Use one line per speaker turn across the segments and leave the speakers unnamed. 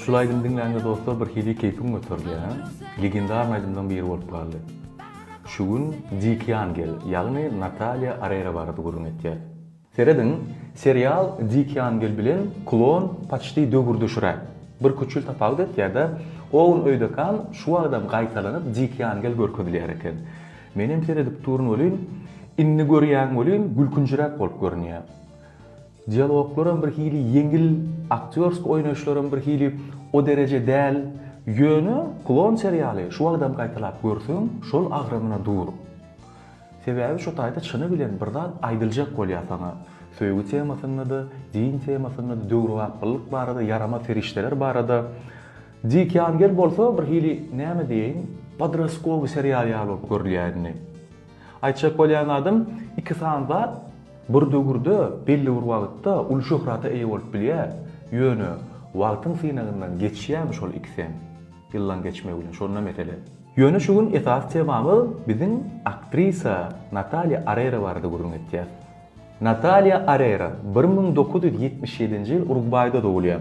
Şul aýdymy diňlände dostlar bir hili keýpim göterdi ýa. Legendarny aýdymlaň biri bolup galdy. Şu gün Dik Ýangel ýagny Natalýa Arera barada gürrüň etýär. Serediň, serial Dik Ýangel bilen Klon paçti döwürdeşräk. Bir küçül tapawut etýärda, Owen öýdekan şu wagtam gaýtalanyp Dik Ýangel görkezilýär eken. Menem seredip durun welin, indi görýän welin gülkünjiräk bolup görünýär. Dialoglaram bir hili ýeňil, aktýorsk oýnaýyşlaram bir hili o dereje däl, ýöne Klon serialy şu wagtam gaýtalap görseň şol agramyna dur. Sebäbi şu taýda çyny bilen bir zat aýdyljak bolýar saňa. Söýgi temasynda-da, din temasynda-da, döwrebaplylyk barada, ýaramaz serişdeler barada. Dik ýangel bolsa bir hili näme diýeýin, podroskowy serial ýaly bolup görülýär indi. Aýtjak bolýan zadym, iki sany zat bir döwürde, belli bir wagtda uly şöhrata eýe bolup bilýär, ýöne wagtyň synagyndan geçýärmi şol ikisem, ýyllaň geçmegi bilen, şonda mesele. Ýöne şu gün esasy temamyz biziň aktrisa Nataliýa Arera barada gürrüň etýär. Nataliýa Arera bir müň dokuz ýüz ýetmiş ýedinji ýyl Urugwaýda dogulýar.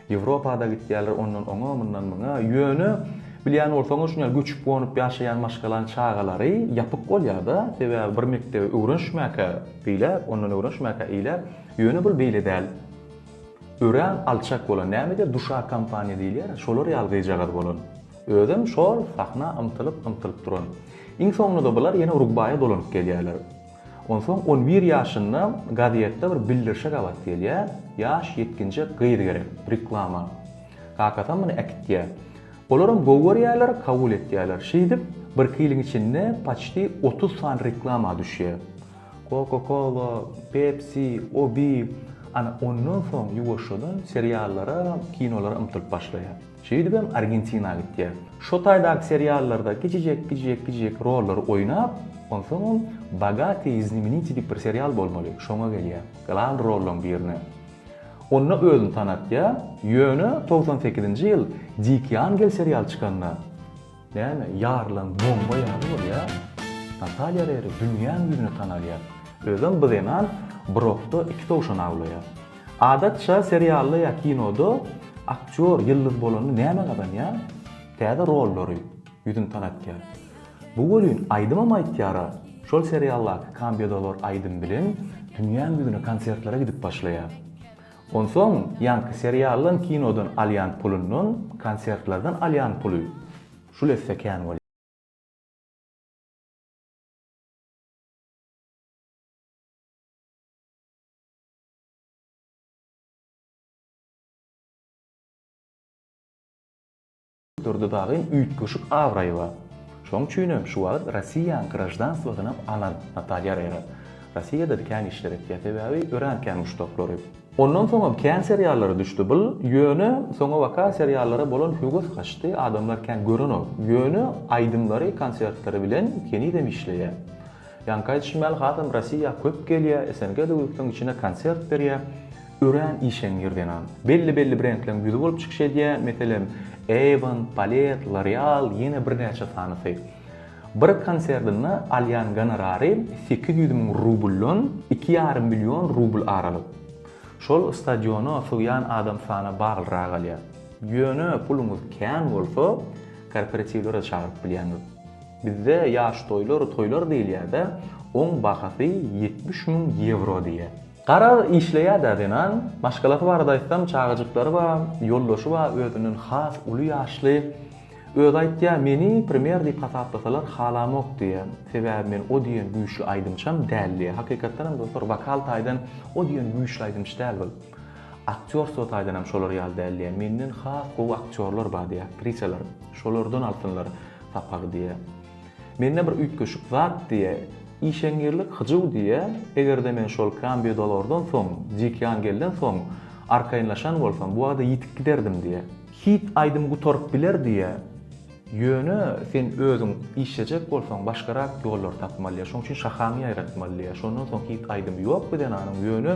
Ýewropada gitýärler ondan oňa, mundan muňa. Ýöne, bilýän bolsaňyz, şuny ýaly göçüp-gonup ýaşaýan maşgalaň çagalary ýapyk bolýar-da, sebäbi bir mekdebe öwrenişmäkä beýläk, ondan öwrenişmäkä eýläk. Ýöne bul beýle däl. Örän alçak bolan, näme diýer, duşa kompaniýa diýilýär, şolar ýaly gyzjagaz bolan. Özem şol sahna ymtylyp-ymtylyp duran. Iň soňunda bular ýene Urugwaýa dolanyp gelýärler. Onsoň on bir ýaşynda gazetde bir bildirişe gabat gelýär, Ýaş ýetginjek gyz gerek, reklama. Kakasam muny äkitýär. Olaram gowy görýärler, kabul etýärler. Şeýdip, birki ýylyň içinde paçti otuz sany reklama düşýär. Coca-Cola, Pepsi, Obi. Ana, ondan soň ýuwaşjadan seriallara, kinolara ymtylyp başlaýar. Şeýdibem Argentina gitýär. Şo taýdaky seriallarda kiçijek, kiçijek, kiçijek rollary oýnap, onsoň ol Bogatý znemenitý diýip bir serial bolmaly, şoňa gelýär. Glan rollaň birine. Onda özüni tanatýar, ýöne togsan sekizinji ýyl Dikyangel serial çykanda, Näme, ýarylan bomba ýaly bolýa. Natalýa Reri dünýäň ýüzüne tanalýar. Özem bu zenan brokda iki towşan awlaýar. Adatça serialda ýa kinoda aktýor ýyldyz bolanda näme gazanýar? Täze rollary, ýüzüni tanatýar. Bu welin aýdymam aýtýar-a. Şol serialdaky Kambedalar aýdym bilen dünýäň ýüzüne konsertlere gidip başlaýar. Onsoň ýaňky serialdan kinodan alýan pulundan konsertlerden alýan puly şul esse kän bolýar. Durdy Bagyn üýtgeşik abraýy bar. Şoň üçinem şu wagt Rossiýanyň graždanswosynam alan Natalýa Rera. Rossiýada-da kän işler etýär, sebäbi örän kän muşdaklary. Ondan soňam kän seriallara düşdi bul, ýöne soňabaka seriallara bolan höwes gaçdy, adamlar kän görenok. Ýöne aýdymlary, konsertleri bilen henizem işleýär. Ýaňky aýdyşym ýaly hasam Rossiýa köp gelýä, SNG-de ýurtlaryň içinde konsert berýä. Örän işeňňir zenan. Belli belli brendleriň ýüzi bolup çykyş edýä, meselem, Avon, Palette, L'Oreal, ýene birnäçe sanysy. Bir konserdinde alýan gonorary sekiz ýüz müň rubldan iki ýarym million rubl aralyk. Şol stadiona sygýan adam sana baglyrak galýar. Ýöne puluňyz kän bolsa, korporatiwlere çagyryp bilýäňiz. Bizde ýaş toýlar toýlar diýilýädä, oň bahasy ýetmiş müň ýewro diýýä. Garaz, işleýädä zenan. Maşgalasy barada aýtsam, çagajyklary bar, ýoldaşy bar, özünden has uly ýaşly. Özi aýtýar, meni premýer diýip hasaplasalar halamok diýýä. Sebäbi men o diýen güýçli aýdymçam däl diýýä. Hakykatdan hem dostlar, wokal taýdan o diýen güýçli aýdymçy däl bul. Aktýorstwo taýdan hem şolar ýaly däl diýýä. Menden has gowy aktýorlar bar diýýä, aktrisalar. Şolardan alsynlar. sapagy diýýä. Mende bir üýtgeşik zat diýýä. Işeňňirlik hyjuw diýýä. Eger-de men şol Kambidolordan soň, Dikýangelden soň arkaýynlaşan bolsam, bu wagda ýitip giderdim diýýä. Hit aýdym gutaryp biler diýýä. Ýöne sen özüň işlejek bolsaň, başgarak ýollary tapmalyja. Şonuň üçin şahaňy ýaýratmaly diýýä. Şondan soň hit aýdymy ýokdy Zenanyň. Ýöne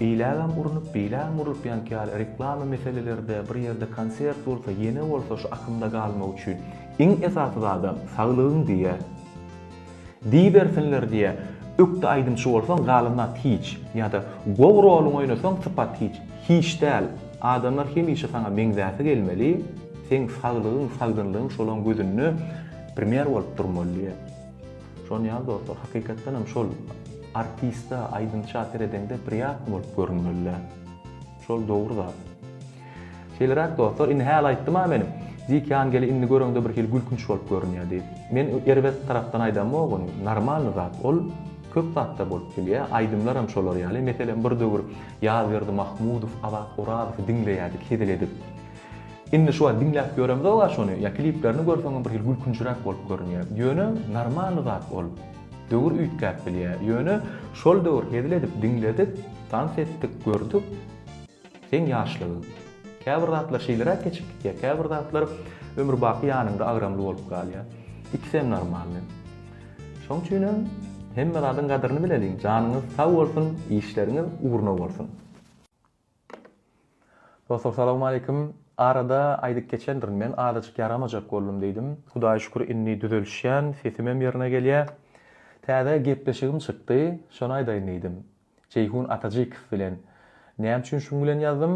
Beýlägem urnup, beýlägem urlup ýanky ýaly reklama meselelerde, bir ýerde konsert bolsa, ýene bolsa şu akymda galmak üçin iň esasy zadam saglygyň diýýä. Diýibersinler diýýä. Ökde aýdymçy bolsaň galan zat hiç. Ýa-da gowy roluňy oýnasaň sypat hiç. Hiç däl. Adamlar hemişe saňa meňzäsi gelmeli. Seň saglygyň, sagdynlygyň şolaň gözünde primer bolup durmaly diýýä. Şon ýaly dostlar hakykatdan hem şol artista aýdymça seredeňde priýatno bolup görünmelidä. Şol dogry zat. Şeýleräk dostlar indi häli aýtdym-a men Dik Ýangeli indi göreňde bir hili gülkünç bolup görünýär diýip. Men erbet tarapdan aýdamok ony. Normalny zat ol. Köp zatda bolup bilýär. Aýdymlar hem şolar ýaly. Meselem bir döwür Ýazberdi Mahmudow, Azat Orazowy diňleýärdik hezil edip. Indi şu wagt diňläp ýöremzog-a şony, ýa kliplerini görseňem bir hili gülkünçiräk bolup görünýä. Ýöne normalny zat ol. Döwür üýtgäp bilýä. Ýöne şol döwür hezil edip diňledik, tans etdik, gördük. Seň ýaşlygyň. Käbir zatlar şeýleräk geçip gitýä, käbir zatlar ömürbaky ýanyňda agramly bolup galýa. Ikisem normalny. Şoň üçinem hemme zadyň gadyryny bileliň. Janyňyz sag bolsun, işleriňiz ugruna bolsun. Dostlar salowmaleýkim. Arada aýdyp geçendirin men azajyk ýaramajak boldum diýdim. Hudaýa şükür indi düzelişýän, sesimem ýerine gelýä. Täze gepleşigim çykdy, şony aýdaýyn diýdim. Jeýhun Atajykow bilen. Näme üçin şuň bilen ýazdym?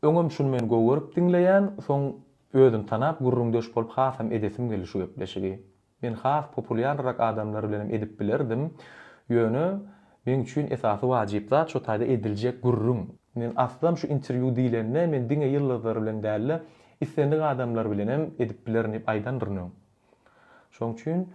Öňem şuny men gowy görüp diňleýän, soň özüni tanap gürrüňdeş bolup hasam edesim geldi şu gepleşigi. Men has populýarrak adamlar bilenem edip bilerdim. Ýöne, meň üçin esasy wajyp zat şo taýda ediljek gürrüň. Men aslam şu interwýu diýlende men diňe ýyldyzlar bilen däl-de, islendik adamlar bilenem edip bilerin diýip aýdandyryn öň. Şoň üçin,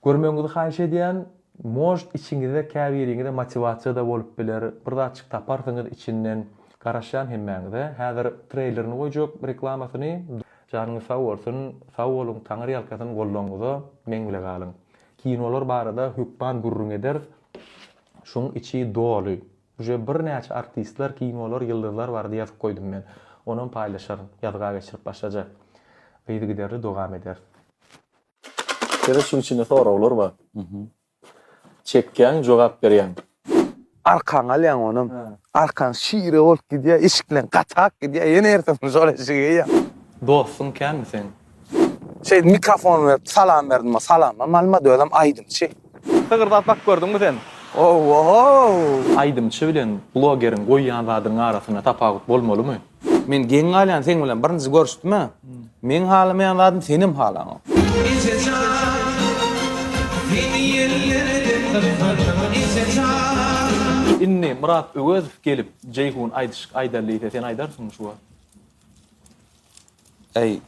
görmegiňizi haýyş edýän, может içiňizde käbiriňize motiwasiýa-da bolup biler, bir zatjyk taparsyňyz içinden. Garaşýan hemmäňize. Häzir treýlerini goýjak, reklamasyny. Janyňyz sag bolsun, sag boluň Taňyr ýalkasyn gollaňyza meň bile galyň. Kinolar barada hökman gürrüň ederis. Şuň içi doly. Uje bir näçe artistler kinolar ýyldyzlar barada ýazyp goýdum men. Onam paýlaşaryn. Ýazga geçirip başlajak. Yzygiderli dogam ederis. Ýene şuň içinde soraglar bar. Çekýäň jogap berýäň. Arkaňy
alýaň onam. Arkaň şire bolup gidýär, eşikleň gatak gidýär, ýene ertesi şol eşigi geýýäň. Dostuň
kämi seň? Şeýdip
mikrofony berip salam berdim, salamam almady, özem aýdymçy. Sygyrdap
bak gördüňmi sen? Ow-ow! Aýdymçy bilen blogeriň goýýan zadynyň arasynda tapawut bolmalymy? Men geň galýan
seň bilen birinji görüşdüme. Meň halamaýan zadym senem halaňok.
Inni Myrat Öwezow gelip Jeýhun aýdyşyk aýdar diýse sen aýdarsyňmy şu wagt. Eý.